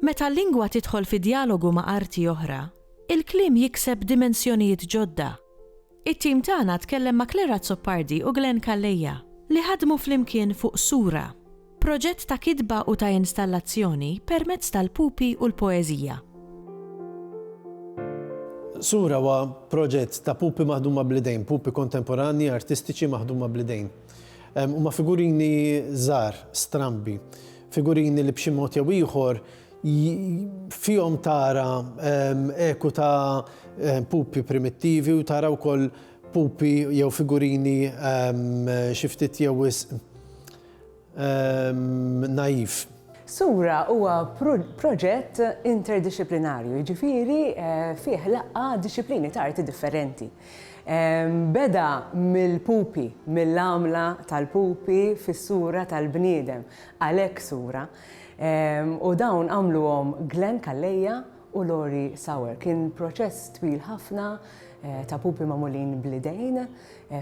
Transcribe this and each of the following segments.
Meta l-lingwa tidħol fi djalogu ma' arti oħra, il-kliem jikseb dimensjonijiet ġodda. It-tim tagħna tkellem ma' Claire Azzopardi u Glenn Calleja, li ħadmu flimkien fuq Sura, proġett ta' kitba u ta' installazzjoni permezz tal-pupi u l-poeżija. Sura huwa proġett ta' pupi maħduma bl-idejn, pupi kontemporanji artistiċi maħduma bl-idejn. Huma figurini żgħar, strambi, figurini li b'xi mod jew ieħor fihom tara eku ta' pupi primittivi u tara wkoll pupi jew figurini xi ftit jew wisq naiv. Sura huwa proġett interdixxiplinarju, jiġifieri fih laqqa' dixxiplini ta' arti differenti. Beda mill-pupi, mill-għamla tal-pupi fis-sura tal-bniedem, għalhekk sura. U dawn għamluhom Glenn Calleja u Lori Sauer. Kien proċess twil ħafna ta' pupi magħmulin bl-idejn.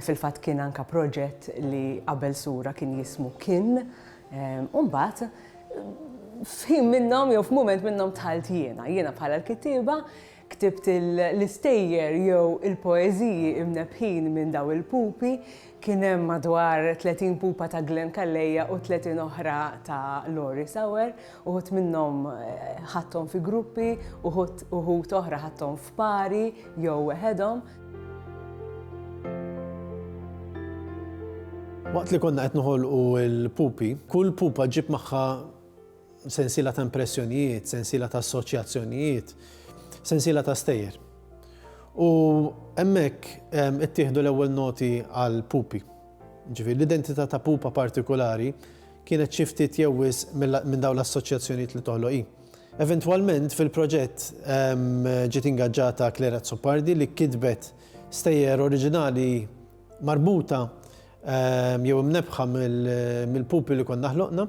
Fil-fatt kien anka proġett li qabel sura kien jismu Kin. U mbagħad f'ħin minnhom jew f'mument minnhom dħalt jiena, jiena bħala l-kittieba, Ktibt l-istejjer jew il-poeżiji imnebbħin minn dawn il-pupi, kien hemm madwar 30 pupa ta' Glen Calleja u 30 oħra ta' Lori Sauer, uħud minnhom ħadthom fi gruppi, uħud uħud oħra ħadthom f'pari jew weħedhom. Waqt li konna qed noħolqu l-pupi, kull pupa ġġib magħha sensiela ta' impressjonijiet, sensiela ta' assoċjazzjonijiet, sensiela ta' stejjer. U hemmhekk ehm, ittieħdu l-ewwel noti għal pupi. Ġifieri l-identità ta' pupa partikolari kienet xi ftit jew wisq minn dawn l-assoċjazzjonijiet li toħloqi. Eventwalment fil-proġett ehm, ġiet ingaġġata Clara Zupardi li kitbet stejjer oriġinali marbuta jew imnebbħa mill-pupi li konna ħloqna,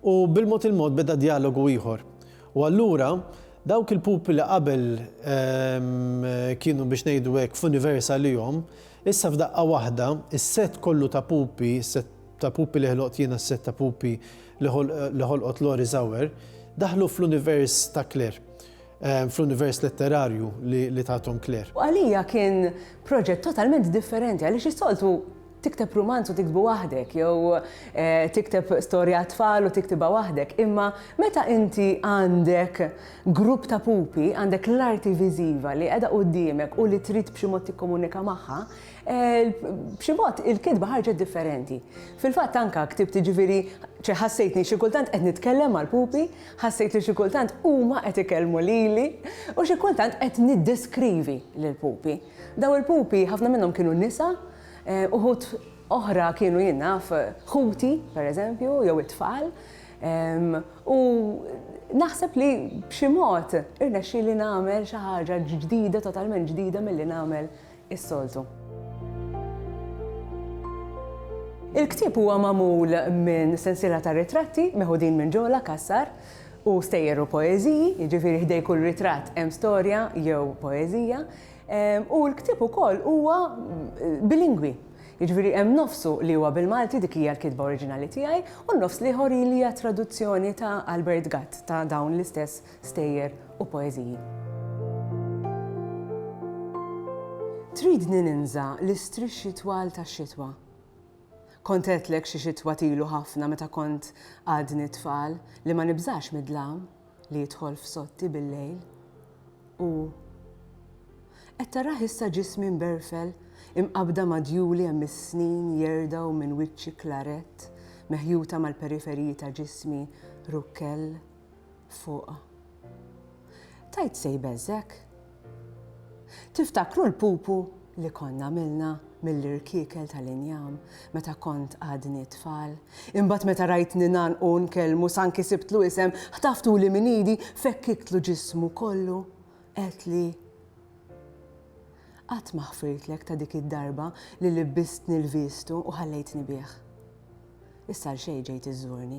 u bil-mod il-mod beda djalogu ieħor. U allura dawk il-pupi li qabel kienu biex ngħidu hekk f'univers għalihom, issa f'daqqa waħda s-sett kollu ta' pupi, s-sett ta' pupi li ħloqt jiena, s-sett ta' pupi li ħolqot Lori Zauer, daħlu fl-univers ta' Claire. fl-univers letterarju li tagħthom Claire. U għalija kien proġett totalment differenti għaliex is-soltu tikteb rumanz u tiktbu waħdek, jew eh, tikteb storja tfal u tiktibha waħdek. Imma meta inti għandek grupp ta' pupi, għandek l-arti viżiva li qiegħda qudiemek u li trid b'xi mod tikkomunika magħha, eh, b'xi mod il-kitba ħarġet differenti. Fil-fatt anka ktibt ġifieri ċeħassejtni xi kultant qed nitkellem mal-pupi Ħassejt li xi kultant huma qed ikellmu lili u xi kultant qed niddeskrivi lill-pupi. Dawn il-pupi ħafna minnhom kienu nisa, uħud oħra kienu jien naf ħuti, pereżempju, jew it-tfal, u naħseb li b'xi mod irnexxieli nagħmel xi ħaġa ġdida, totalment ġdida milli nagħmel is-soltu. Il-ktieb huwa magħmul minn sensiela ta' ritratti meħudin minn Ġola Cassar u stejjer u poeżiji, jiġifieri ħdej kull ritratt hemm storja jew poeżija, u l-ktieb ukoll huwa bilingwi, jiġifieri hemm nofsu li huwa bil-Malti, dik hija l-kitba oriġinali tiegħi, u n-nofs l-ieħor hija traduzzjoni ta' Albert Gatt ta' dawn l-istess stejjer u poeżiji. Tridni ninża' l-istrixxi twal tax-xitwa? Kont għedtlek xi xitwa t'ilu ħafna meta kont għadni tfal li ma nibżax mid-dlam li jidħol f'sotti bil-lejl. U qed tarah issa ġismi mberfel imqabbda ma' djuli hemm is-snin jerdgħu minn wiċċi klarett meħjuta mal-periferiji ta' ġismi rukkell fuqha. Tgħid se jbeżżgħek? Tiftakru l-pupu li konna għamilna mill-irkiekel tal-injam meta kont għadni tfal? Imbagħad meta rajtni ngħannqu u nkellmu s'anki sibtlu isem, ħtaftuli minn idi, fekkiklu ġismu kollu, għedtli, Qatt ma ħfirtlek ta' dik id-darba li libbistni l-viestu u ħallejtni bih. Issa għalxejn ġejt iżżurni.